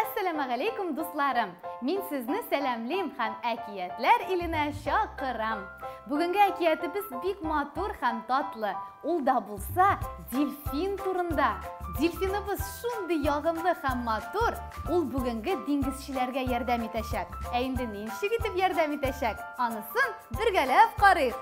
Әссәламәгаләйкүм, дусларым! Мин сезне сәламлим һәм әкиятләр иленә чакырам. Бүгенге әкиятебез бик матур һәм татлы. Ул да булса дельфин турында. Дельфиныбыз шундый ягымлы һәм матур, ул бүгенге диңгезчеләргә ярдәм итәчәк. Ә инде ничек итеп ярдәм итәчәк, анысын бергәләп карыйк.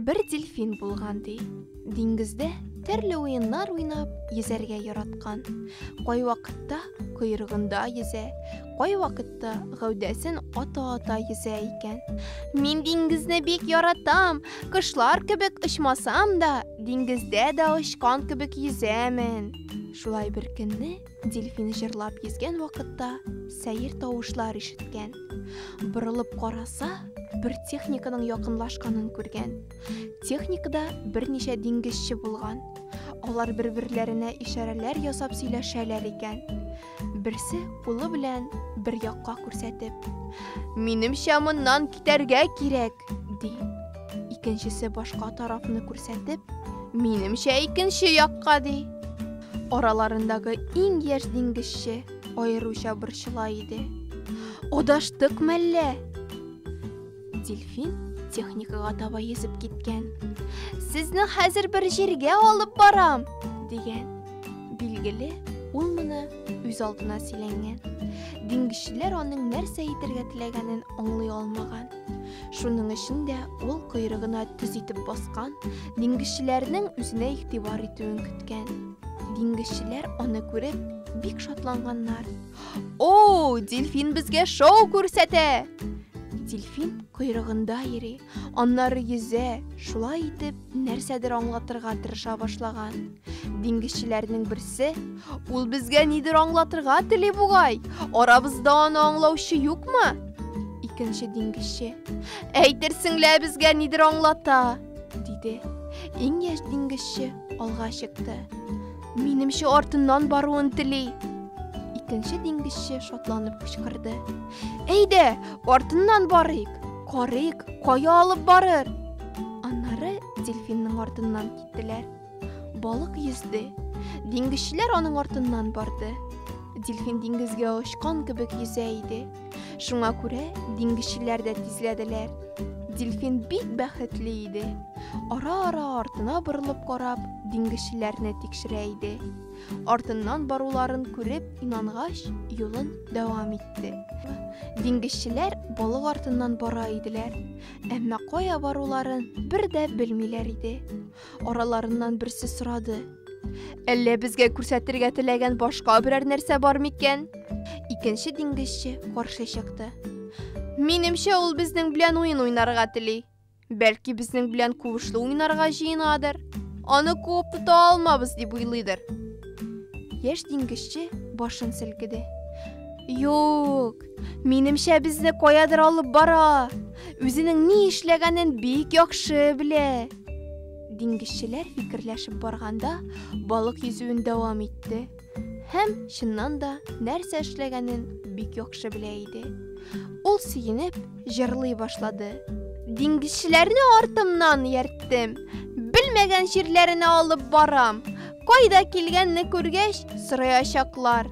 Бер дельфин булган ди. Диңгездә төрле уеннар уйнап, йөзәргә яраткан. Кайвакытта койрыгында йөзә, кайвакытта чакта гәүдәсен ата-ата йөзә икән. Мин диңгезне бик яратам, кошлар кебек очмасам да, диңгездә дә очкан кебек йөзәмен. Шулай бер көнне дельфин җырлап йөзгән вакытта сәер тавышлар ишеткән. Борылып караса, бер техниканың якынлашканын күргән. Техникада берничә диңгезче булган. Алар бер-берләренә ишарәләр ясап сөйләшәләр икән. Берсе кулы белән бер якка күрсәтеп, "Минемчә, моннан китәргә кирәк", ди. Икенчесе башка тарафны күрсәтеп, "Минемчә, икенче якка", ди. Араларындагы иң яшь диңгезче аеруча борчыла иде. Адаштык мәллә? Дельфин техникага таба йөзеп киткән. Сезне хәзер бер җиргә алып барам, дигән. Билгеле, ул моны үз алдына сөйләнгән. Диңгезчеләр аның нәрсә әйтергә теләгәнен аңлый алмаган. Шуның өчен дә ул койрыгына төз итеп баскан, диңгезчеләрнең үзенә игътибар итүен көткән. Диңгезчеләр аны күреп бик шатланганнар. О, дельфин безгә шоу күрсәтә! Дельфин койрыгында йөри, аннары йөзә, шулай итеп, нәрсәдер аңлатырга тырыша башлаган. Диңгезчеләрнең берсе, ул безгә нидер аңлатырга тели бугай, арабызда аны аңлаучы юкмы? Икенче диңгезче, әйтерсең лә безгә нидер аңлата, диде. Иң яшь диңгезче алга чыкты. Минемчә артыннан баруын тели. Икенче диңгезче шатланып кычкырды. Әйдә, артыннан барыйк. Карыйк, кая алып барыр? Аннары дельфинның артыннан киттеләр. Балык йөзде. Диңгезчеләр аның артыннан барды. Дельфин диңгезгә очкан кебек йөзә иде. Шуңа күрә диңгезчеләр дә тизләделәр. Дельфин бик бәхетле иде. Ара-ара артына борылып карап, диңгезчеләрне тикшерә иде. Артыннан баруларын күреп, инангач, юлын дәвам итте. Диңгезчеләр балык артыннан бара иделәр, әмма кая баруларын бер дә белмиләр иде. Араларыннан берсе сорады. Әллә безгә күрсәтергә теләгән башка берәр нәрсә бар микән? Икенче диңгезче каршы чыкты. Минемчә, ул безнең белән уен уйнарга тели. Бәлки безнең белән куышлы уйнарга җыенадыр. Аны куып тота алмабыз дип уйлыйдыр. Яшь диңгезче башын селкеде. Юк, Минемчә безне каядыр алып бара. Үзенең ни эшләгәнен бик яхшы белә. Диңгезчеләр фикерләшеп барганда, балык йөзүен дәвам итте. Һәм чыннан да нәрсә эшләгәнен бик яхшы белә иде. Ул сөенеп, җырлый башлады. Диңгезчеләрне артымнан ярттым. Белмәгән җирләренә алып барам. Кайда килгәнне күргәч, сораячаклар.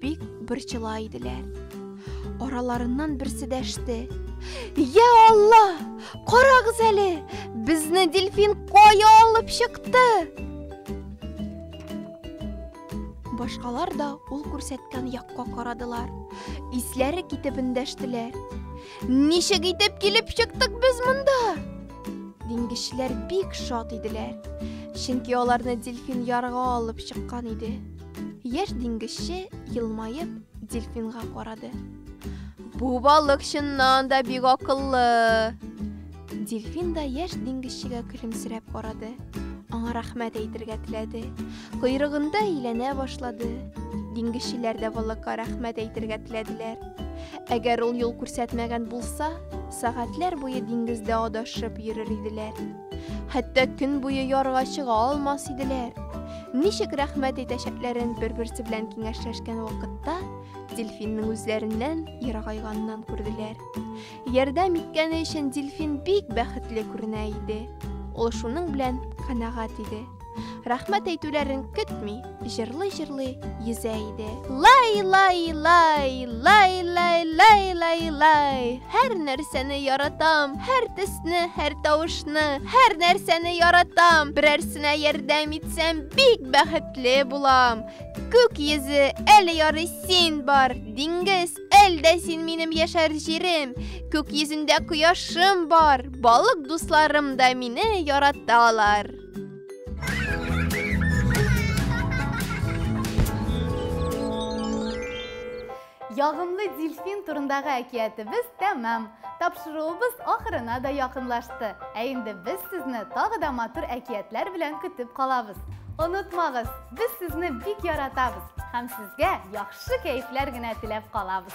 бик борчыла иделәр. Араларыннан берсе дәште. Я Алла! Карагыз әле! Безне дельфин кая алып чыкты? Башкалар да ул күрсәткән якка карадылар. Исләре китеп эндәштеләр. Ничек итеп килеп чыктык без монда? Диңгезчеләр бик шат иделәр. Чөнки аларны дельфин ярга алып чыккан иде. Яшь диңгезче, елмаеп, дельфинга карады. Бу балык чыннан да бик акыллы. Дельфин да яшь диңгезчегә көлемсерәп карады. Аңа рәхмәт әйтергә теләде. Койрыгында әйләнә башлады. Диңгезчеләр дә балыкка рәхмәт әйтергә теләделәр. Әгәр ул юл күрсәтмәгән булса, сәгатьләр буе диңгездә адашып йөрер иделәр. Хәтта көн буе ярга чыга алмас иделәр. Ничек рәхмәт әйтәчәкләрен бер-берсе белән киңәшләшкән вакытта дельфинның үзләреннән ерагайганнан күрделәр. Ярдәм иткәне өчен дельфин бик бәхетле күренә иде. Ул шуның белән канәгать иде. Рәхмәт әйтүләрен көтми, җырлый-җырлый йөзә иде. Лай, лай, лай, лай, лай, лай, лай, лай. Һәр нәрсәне яратам, һәр төсне, һәр тавышны, һәр нәрсәне яратам. Берәрсенә ярдәм итсәм, бик бәхетле булам. Күк йөзе, әле ярый син бар, диңгез, әлдә син минем яшәр җирем. Күк йөзендә кояшым бар, балык дусларым да мине яраталар. Ягымлы дельфин турындагы әкиятебез тәмам. Тапшыруыбыз ахырына да якынлашты. Ә инде без сезне тагы да матур әкиятләр белән көтеп калабыз. Онытмагыз, без сезне бик яратабыз һәм сезгә яхшы Шушы кәефләр генә теләп калабыз.